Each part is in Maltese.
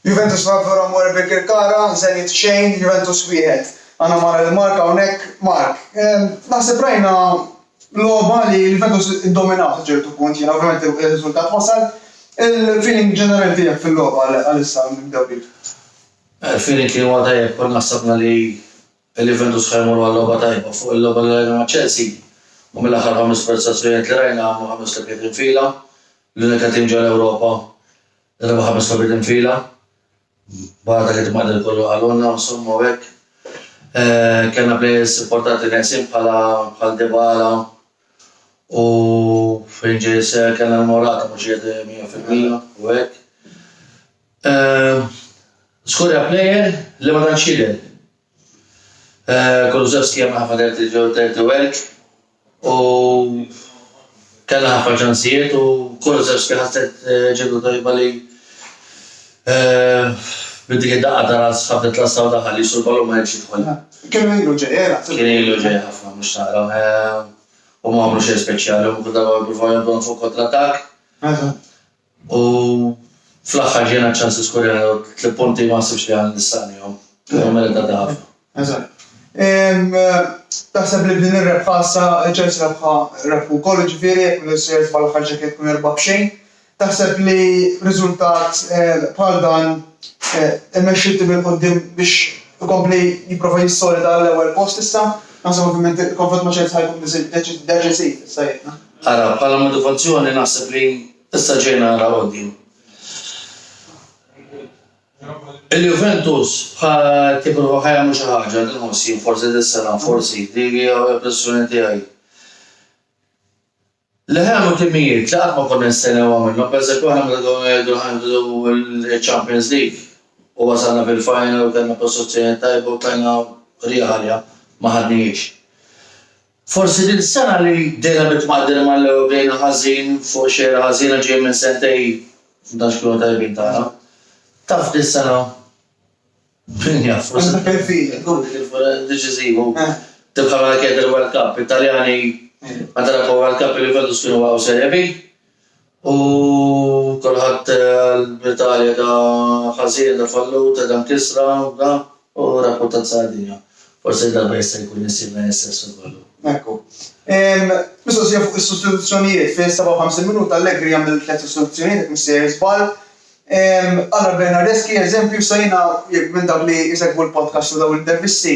Juventus Marlborough More Birkirkara 0 xejn Juventus 1. Għandna Mara lil Mark hawnhekk, Mark, ehm, naħseb rajna logħba li l-Juventus iddominaw sa ċertu punt, jiena ovvjament ir-riżultat wasal. Il-feeling ġenerali tiegħek fil-logħba għalissa nibdew bik. Il-feeling kien huwa tajjeb, konna ħsabna li l-Juventus ħa jmorru għal logħba tajba fuq il-logħba li rajna ma' Chelsea u mill-aħħar ħames prestazzjonijiet li rajna għamlu ħames logħbiet infila, l-unika tim ġol-Ewropa Darba ħames logħbiet infila, barra dak it-tmagħdil kollu qalulna u nsommu hekk. Kellna plejers importanti neqsin bħala bħal Dybala u fejn ġej seħħ kellna l-Morata mhux qiegħed 100% u hekk. Żgur hija plejer li ma tantx jidher Kulusevski għamel ħafna dirty dirty work u kellha ħafna ċansijiet u Kulusevski ħasset ġietu tajba li bi dik id-daqqa ta' ras ħabtet l-għassa u daħal jissu l-ballun u ma ħliefx jidħolha. Kien ilu ġej eh naħseb. Kien ilu ġej ħafna mhux tara eh u ma għamlu xejn speċjali u kull darba jippruvaw jgħadduha fuq kontra attakk. Eżatt. U fl-aħħar ġejna ċ-ċans niskurjaw tliet punti li ma naħsibx li għandna nistagħnihom. Huma meritati ħafna. Eżatt. Taħseb li b'din ir-rebħa issa ċ-Chelsea rebħa rebħu wkoll, jiġifieri jekk mhux se jirsbaħ l-aħħar ġakkett tkun erba' b'xejn. Taħseb li riżultat bħal dan imexxi t-tim 'il quddiem biex ikompli jipprova jissolida għall-ewwel post issa? Naħseb ovvjament il-konfront ma' Chelsea ħa jkun deċiżiv, issa għidna. Ara, bħala motivazzjoni naħseb li issa ġejna ara odju. Il-Juventus tipprova ħajja mhux xi ħaġa li nħoss jien forsi dis-sena, forsi, dik hija impressjoni tiegħi. Li ħajamlu timijiet li qatt ma konna nistennewha minnhom, pereżempju aħna meta konna ngħidu li ħanieħdu ċ-Champions League u wasalna fil-final u kellna prestazzjoni tajba u tlajna rieħ għaliha, ma ħadnihiex. Forsi din is-sena li bdejna bit-tmaqdir mal-Ewro bdejna ħażin fuq xejra ħażina ġejjin minn sentej f'dax kienu tajbin tagħna. Taf dis-sena min jaf forsi tkun dik il-furra deċiżiva u tibqa' mela kienet il-World Cup. It-Taljani meta rebħu l-World Cup il-Juventus kienu waqgħu Serie B. U kulħadd qal b'Italja da ħażin, da fallut, da mkissra, da, u rakkuntat Sardinja. Forsi darba jista' jkun insiba jien stess fil-balun. Ekku. Mistoqsija fuq is-sustituzzjonijiet, fis-57 minuta Allegri jagħmel tliet sustituzzjonijiet jekk mhux sejjer żball. Għal Bernardeschi, eżempju, sa jiena jekk minn dawk li jsegwu l-podcast u dawn l-intervisti,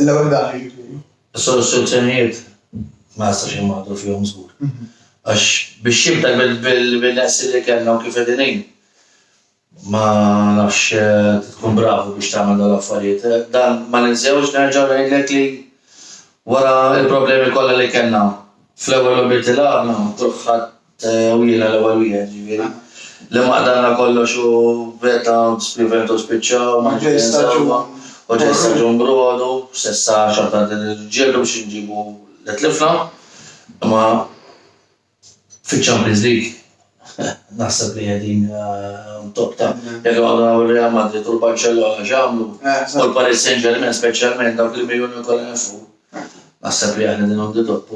L-ewwel dak li jiġifieri? Is-soluzzjonijiet ma nistax inwaħħlu fihom żgur. Għax biex jibda bil-neqsin li kellna u kif qegħdin hi, ma nafx tkun bravu biex tagħmel dawn l-affarijiet. Dan ma ninsewx nerġa' ngħidlek li wara l-problemi kollha li kellna fl-ewwel logħbiet li lagħabna, U jiena l-ewwel wieħed, jiġifieri. Li ma qdalna kollox u b'hekk dawn b'Juventus spiċċaw, ma nixtieqx insewwa. U ġej staġun b'Rodu, s'issa xorta qegħdin niġġieldu biex inġibu li tlifna. Imma fiċ-Champions League naħseb li qegħdin on top ta'. Jekk inqogħdu naraw ir-Real Madrid u l-Barċellona x'għamlu, u l-Paris Saint-Germain speċjalment dawk il-miljuni kollha nefqu, naħseb li aħna qegħdin on the top.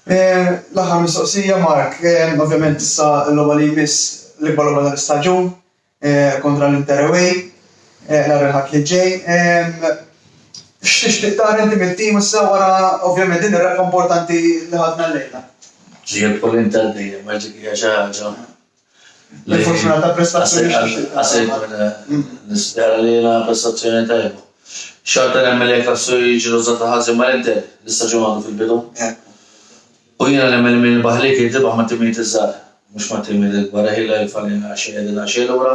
L-aħħar mistoqsija, Mark. Ovvjament issa l-logħba li jmiss, l-ikbar logħba tal-istaġun kontra l-Inter away nhar il-Ħadd li ġej. X'tixtieq tara inti mit-tim issa wara ovvjament din ir-rebħa importanti li ħadna llejla? Jiekol Inter dejjem għax dik hija xi ħaġa Li fortunata prestazzjoni x'tixtieq tagħmel. Nispera li jingħad prestazzjoni tajba. Xorta nemmen li jekk Lassu jiġi rużata ħażin mal-Inter, l-istaġun għadu fil-bidu. U jiena nemmen li min irbaħ lik irid irbaħ mat-timijiet iż-żgħar, mhux mat-timijiet il-kbar. Eħi la jilfa' lejna għaxej qegħdin għaxej lura,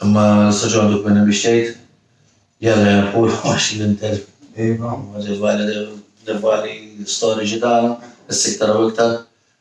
imma l-istaġun għadu kmieni biex tgħid. Jalla jonqulu għax l-Inter huma rivali storiċi tagħna, issa iktar u iktar.